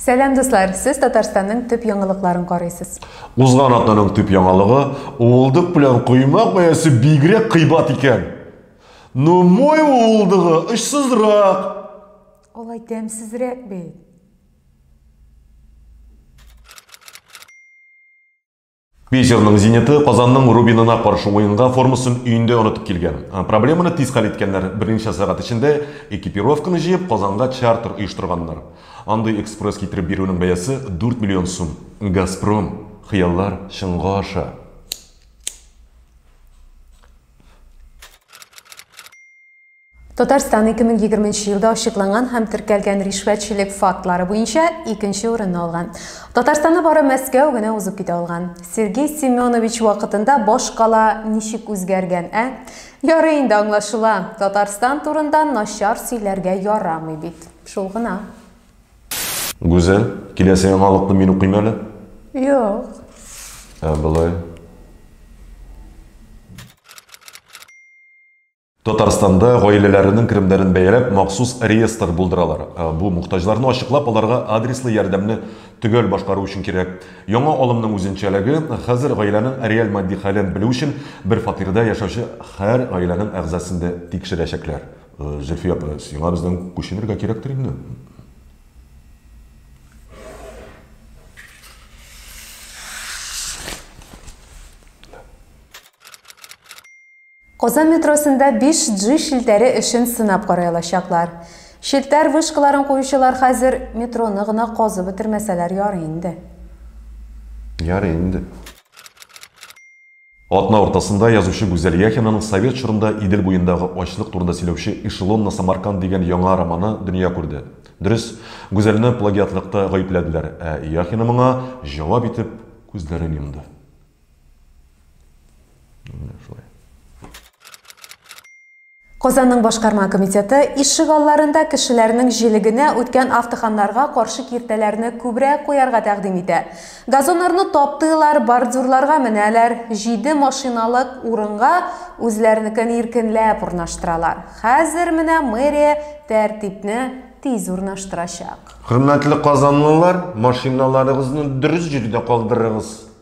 Сәлам дуслар, сез Татарстанның төп яңалыкларын карыйсыз. Узган атнаның төп яңалыгы уылдык белән коймак бәясе бигрәк кыйбат икән. Ну мой уылдыгы очсызрак. Алай тәмсезрәк бит. Питерның Зениты Казанның Рубинына каршы уенга формасын өендә онытып килгән. Проблеманы тиз хәл иткәннәр. Берничә сәгать эчендә экипировканы җыеп Казанга чартер оештырганнар. Андый экспресс китереп бирүнең бәясе 4 миллион сум. Газпром, хыяллар чынга аша. Татарстан 2020 нче елда ачыкланган һәм теркәлгән ришвәтчелек фактлары буенча икенче урынны алган. Татарстанны бары Мәскәү генә узып китә алган. Сергей Семенович вакытында баш кала ничек үзгәргән, ә? Ярый инде аңлашыла, Татарстан турында начар сөйләргә ярамый бит. Шул гына. Гүзәл, киләсе яңалыкны мин укыйм әле. Юк. Ә болай. Татарстанда гаиләләренең керемнәрен бәяләп, махсус реестр булдыралар. Э, бу мохтаҗларны ачыклап, аларга адреслы ярдәмне төгәл башкару өчен кирәк. Яңа алымның үзенчәлеге, хәзер гаиләнең реаль матди хәлен белү өчен бер фатирда яшәүче һәр гаиләнең әгъзасын да тикшерәчәкләр. Э, Зөлфия апа, сиңа бездән күченергә кирәктер инде. Казан метросында 5G челтәре эшен сынап карый алачаклар. Челтәр вышкаларын куючылар хәзер метроны гына казып бетермәсәләр ярый инде. Ярый инде. Атна уртасында язучы Гүзәл Яхинаның совет чорында Идел буендагы ачлык турында сөйләүче Эшелонный Самарканд дигән яңа романы дөнья күрде. Дөрес, Гүзәлне плагиатлыкта гаепләделәр, ә Яхина моңа җавап итеп күзләрен йомды. Казанның башкарма комитеты ишек алларында кешеләрнең җилегенә үткән автоханнарга каршы киртәләрне күбрәк куярга тәкъдим итә. Газоннарны таптыйлар, бордюрларга менәләр, җиде машиналык урынга үзләренекен иркенләп урнаштыралар. Хәзер менә мэрия тәртипне тиз урнаштырачак. Хөрмәтле казанлылар, машиналарыгызны дөрес җирдә калдырыгыз.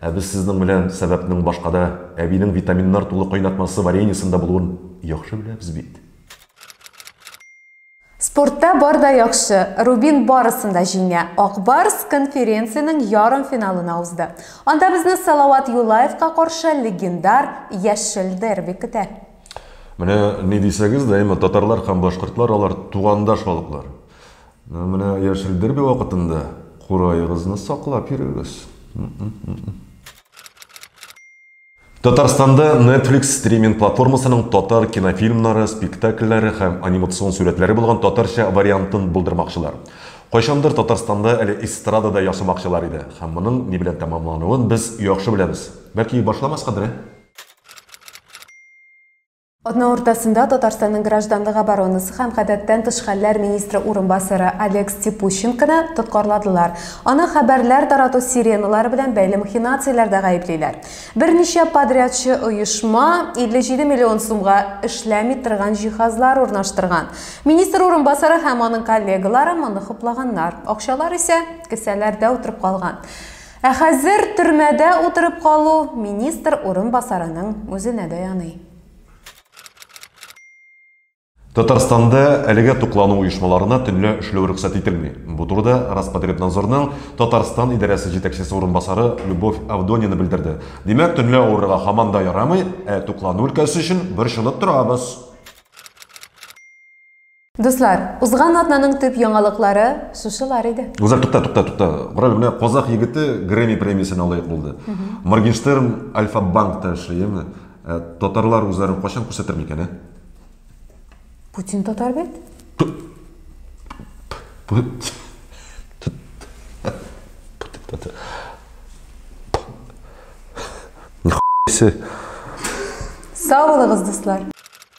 Ә без сезнең белән сәбәпнең башкада, әбинең витаминнар тулы кайнатмасы вареньесында булуын яхшы беләбез бит. Спортта бар да яхшы. Рубин барысын да җиңә. Ак Барс конференциянең ярымфиналына узды. Анда безне Салават Юлаевка каршы легендар Яшел дерби көтә. Менә ни дисәгез дә, әмма татарлар һәм башкортлар алар тугандаш халыклар. Менә яшел дерби вакытында кураегызны саклап йөрегез. Татарстанда Netflix стриминг платформасының татар кинофильмнары, спектакльләре һәм анимацион сүрәтләре булган татарча вариантын булдырмакчылар. Кайчандыр Татарстанда әле эстрадада ясамакчылар иде, һәм моның ни белән тәмамлануын без яхшы беләбез. Бәлки башламаскадыр, ә? Атна уртасында Татарстанның гражданлык оборонасы һәм гадәттән тыш хәлләр министры урынбасары Олег Степущенконы тоткарладылар. Аны хәбәрләр тарату сиреналары белән бәйле махинацияләрдә гаеплиләр. Берничә подрядчы оешма 57 миллион сумга эшләми торган җиһазлар урнаштырган. Министр урынбасары һәм аның коллегалары моны хуплаганнар. Акчалар исә кесәләрдә утырып калган. Ә хәзер төрмәдә утырып калу министр урынбасарының үзенә дә яный. Татарстанда әлегә туклану оешмаларына төнлә эшләү рөхсәт ителми. Бу турыда Роспотребнадзорның Татарстан идарәсе җитәкчесе урынбасары Любовь Авдонина белдерде. Димәк, төнлә авырырга һаман да ярамый, ә туклану өлкәсе өчен борчылып торабыз. Дуслар, узган атнаның төп яңалыклары шушылар иде. Гүзәл, тукта, тукта, тукта. Корал менә казах егете Грэмми премиясенә лаек булды. Моргенштерн Альфа Банкта эшли, яме? Ә татарлар үзләрен кайчан күрсәтер микән, ә? Путин татар бит. Сау булыгыз, дуслар!